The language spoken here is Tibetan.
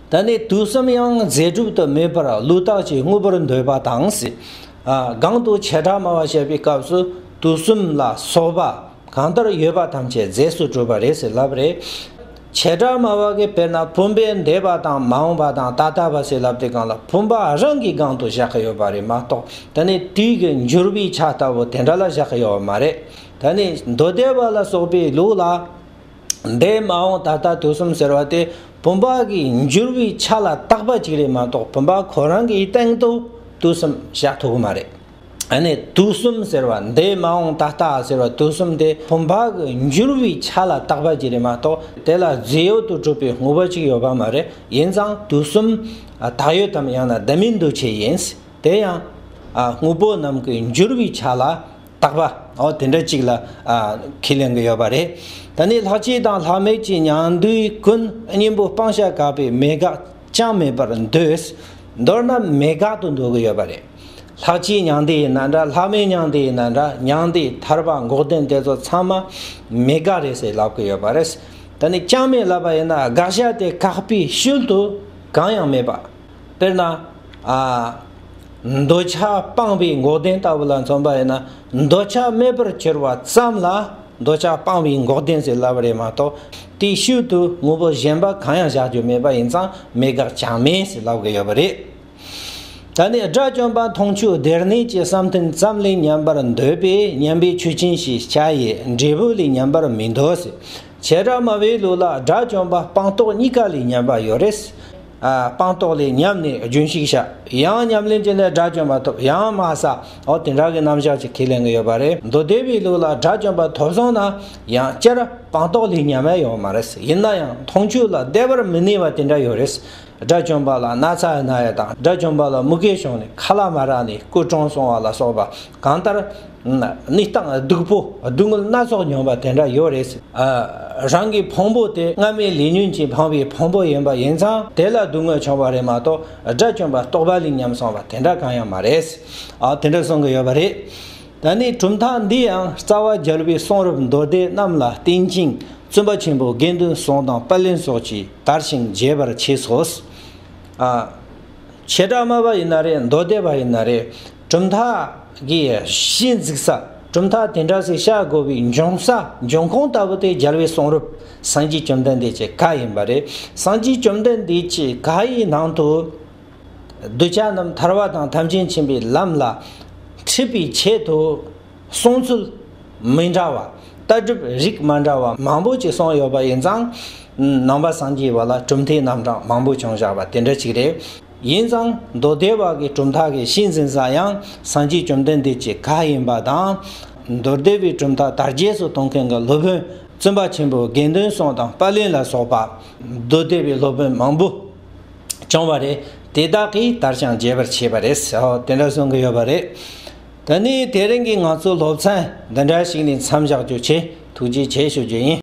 ད་ནི་དུས་གསུམ་ཡང་རྫས་གྲུབ་ཏུ་མེད་པར་ལུས་དག་ཅིང་དངོས་པོར་འདོད་པ་དང། གང་དུ་བྱེ་བྲག་སྨྲ་བ་བཤད་པའི་སྐབས་སུ་དུས་གསུམ་ལ་སོགས་པ་གང་ལྟར་ཡོད་པ་ཐམས་ཅད་རྫས་སུ་གྲུབ་པ་རེད་ཟེར་ལབ་རེ། བྱེ་བྲག་སྨྲ་བ་གིས་དཔེར་ན་བུམ་པའི་འདས་པ་དང་མ་འོངས་པ་དང་ད་ལྟ་བ་ཟེར་ལབ་དེ་གང་ལ་བུམ་པ་རང་གི་སྒང་དུ་བཞག་གི་ཡོད་པ་རེད་མ་གཏོགས་ད་ནི་དུས་ཀྱི་འགྱུར་བའི་ཆ་ལྟ་བུ་དེ་འདྲ་ལ་བཞག་གི་ཡོད་པ་མ་རེད། ད་ནི་མདོ་སྡེ་པ་ལ་སོགས་པའི་ལུགས་ལ། འདས་མ་འོངས་ད་ལྟ་དུས་གསུམ་ཟེར་བ་དེ་བུམ་པ་གྱི་འགྱུར་བའི་ཆ་ལ་བཏགས་པ་ཅིག་རེད་མ་གཏོགས་བུམ་པ་ཁོ་རང་གི་སྟེང་དུ་དུས་གསུམ་བཞག་ཐུབ་གི་མ་རེད། ཨ་ནི་དུས་གསུམ་ཟེར་བ་འདས་མ་འོངས་ད་ལྟ་ཟེར་བ་དུས་གསུམ་དེ་བུམ་པ་གྱི་འགྱུར་བའི་ཆ་ལ་བཏགས་པ་ཅིག་རེད་མ་གཏོགས་དེ་ལ་རྫས་ཡོད་དུ་གྲུབ་པའི་དངོས་པོ་ཅིག་ཡོད་པ་མ་རེད་ཡིན་ཙང་དུས་གསུམ་དག་ཡོད་དམ་ཡང་ན་དེ་མིན་འདུ་བྱེད་ཡིན། དེ་ཡང་དངོས་པོ་རྣམས་ཀྱི་འགྱུར་བའི་ཆ་ལ། བརྟག་པ། འོ་དེ་འདྲ་ཅིག་ལ་ཁས་ལེན་གྱི་ཡོད་པ་རེད། ད་ནི་ལྷ་སྐྱེས་དང་ལྷ་མེད་ཀྱི་མྱང་འདུའི་ཀུན་སྙིང་པོ་སྤང་བྱ་གབ་པའི་མེད་དགག་ཅང་མེད་པར་འདོད། མདོར་ན་མེད་དགག་ཏུ་འདོད་ཀྱི་ཡོད་པ་རེད། ལྷ་སྐྱེས་མྱང་འདས་ཡིན་ན་འདྲ་ལྷ་མེད་མྱང་འདས་ཡིན་ན་འདྲ་མྱང་འདས་ཐར་པ་འགོག་བདེན་དེ་ཚོ་ཚང་མ་མེད་དགག་རེད་ཟེར་ལབ་ཀྱི་ཡོད་པ་རེད། ད་ནི་ཅང་མེད་ལབ་པ་ཡིན་ན་དགག་བྱ་དེ་བཀག་པའི་ཤུལ་དུ་གང་ཡང་མེད་པ། དཔེར་ན། འདོད་ཆགས་སྤངས་པའི་མགོ་ལྡན་ལྟ་བུ་ལ་མཚོན་པ་ཡིན་ན་འདོད་ཆགས་མེད་པར་གྱུར་པ་ཙམ་ལ་འདོད་ཆགས་སྤངས་པའི་མགོ་ལྡན་ཟེར་སླ་བ་རེད་མ་གཏོགས་དེའི་ཤུལ་དུ་དངོས་པོ་གཞན་པ་གང་ཡང་བཞག་རྒྱུ་མེད་པ་ཡིན་ཙང་མེད་དགག་ཅང་མེད་ཟེར་སླ་བ་ཡོད་པ་རེད། ད་ནི་དགྲ་བཅོམ་པ་མཐོང་ཆོས་སྡེར་གནས་ཀྱི་བསམ་གཏན་ཙམ་ལས་ཉམས་པར་འདོད་པས་ཉམས་པའི་ཆོས་ཅན་ཞེས་བྱ་ཡི་འབྲས་བུ་ལས་ཉམས་པར་མི་འདོད། བྱེ་བྲག་སྨྲ་བའི་ལུགས་ལ་དགྲ་བཅོམ་པ་སྤངས་རྟོགས་གཉིས་ཀ་ལས་ཉམས་པ་ཡོད་རེད། སྤངས་རྟོགས་ལས་ཉམས་ནས་རྒྱུན་བཤིག་བྱ། ཡང་ཉམས་ལེན་གྱི་ལས་དགྲ་བཅོམ་པ་ཐོབ་ཡང་དམའ་ས་འོ་དེ་འདྲ་གི་རྣམ་གཞག་ཅིག་ཁས་ལེན་གི་ཡོད་པ་རེད་མདོ་སྡེ་པའི་ལུགས་ལ་དགྲ་བཅོམ་པ་ཐོབ་སོང་ན་ཡང་སྤྱིར་སྤངས་རྟོགས་ལས་ཉམས་མེད་ཡོད་མ་རེད་ཡིན་ན་ཡང་མཐོང་ཆོས་ལ་བདེ་བར་མི་གནས་པ་དེ་འདྲ་ཡོད་རེད། དགྲ་བཅོམ་པ་ལ་ན་ཚ་ཡ་ན་ཡ་དང་དགྲ་བཅོམ་པ་ལ་མུ་གེ་བྱུང་ནས་ཁ་ལ་མ་རག་ནས་སྐུ་གྲོངས་སོང་བ་ལ་སོགས་པ་གང་ལྟར། ནི་སྟངས་སྡུག་པོ་སྡུག་བསྔལ་སྣ་ཚོགས་མྱོང་བ་དེ་འདྲ་ཡོད་རེད་ཟེར། རང་གི་ཕུང་པོ་དེ་སྔ་མའི་ལས་ཉོན་གྱིས་འཕངས་པའི་ཕུང་པོ་ཡིན་པ་ཡིན་ཙང་དེ་ལ་སྡུག་བསྔལ་བྱུང་བ་རེད་མ་གཏོགས་དགྲ་བཅོམ་པ་རྟོགས་པ་ལས་ཉམས་སོང་བ་དེ་འདྲ་གང་ཡང་མ་རེད། དེ་འདྲ་གསུང་གི་ཡོད་པ་རེད། ད་ནི་གྲུབ་མཐའ་འདི་ཡང་རྩ་བ་རྒྱལ་བའི་གསུང་རབ་མདོ་སྡེ་རྣམས་ལ་བརྟེན་ཅིང་བཙུན་པ་ཆེན་པོ་དགེ་འདུན་ཟུང་དང་པར་ལེན་སོགས་ཀྱིས་དར་ཞིང་རྒྱས་པར་བྱས་སོ། བྱེ་བྲག་སྨྲ་བ་ཡིན་ན་རེད་མདོ་སྡེ་བ་ཡིན་ན་རེད། གྲུབ་མཐའ་གྱི་གཞི་འཛུགས་ས། གྲུབ་མཐའ་དེ་འདྲ་ཞིག་བྱ་དགོས་པའི་འབྱུང་ས་འབྱུང་ཁུངས་ལྟ་བུ་དེ་རྒྱལ་བའི་གསུང་རབ་སངས་རྒྱས་བཅོམ་ལྡན་འདས་ཀྱི་བཀའ་ཡིན་པ་རེད། སངས་རྒྱས་བཅོམ་ལྡན་འདས་ཀྱི་བཀའ་ཡི་ནང་དུ། གདུལ་བྱ་རྣམས་ཐར་བ་དང་ཐམས་ཅད་མཁྱེན་པའི་ལམ་ལ་འཁྲིད་པའི་ཆེད་དུ། གསུང་ཚུལ་མི་འདྲ་བ། ལྟ་གྲུབ་རིགས་མ་འདྲ་བ་མང་པོ་ཅིག་གསུངས་ཡོད་པ་ཡིན་ཙང། ནང་པ་སངས་རྒྱས་པ་ལ་གྲུབ་མཐའི་རྣམ་གྲངས་མང་པོ་བྱུང་བཞག་པ་དེ་འདྲ་ཅིག་རེད། ཡིན་ཙང་མདོ་སྡེ་བ་གའི་གྲུབ་མཐའ་གྱི་གཤིས་འཛིན་ས་ཡང་སངས་རྒྱས་བཅོམ་ལྡན་འདས་ཀྱི་བཀའ་ཡིན་པ་དང། མདོ་སྡེ་བའི་གྲུབ་མཐའ་དར་རྒྱས་སུ་གཏོང་མཁན་གྱི་སློབ་དཔོན་བཙུན་པ་ཆེན་པོ་དགེ་འདུན་སྲོང་དང་པཱ་ལིན་ལ་སོགས་པ་མདོ་སྡེ་བའི་སློབ་དཔོན་མང་པོ་བྱུང་བ་རེད། དེ་དག་གིས་དར་ཞིང་རྒྱས་པར་བྱས་པ་རེད། དེ་འདྲ་གསུང་གི་ཡོད་པ་རེད། ད་ནི་དེ་རིང་གི་ང་ཚོའི་སློབ་ཚན་འདི་འདྲ་ཞིག་ནས་མཚམས་བཞག་རྒྱུ་ཆེད་ཐུགས་རྗེ་ཆེ་ཞུ་རྒྱུ་ཡིན།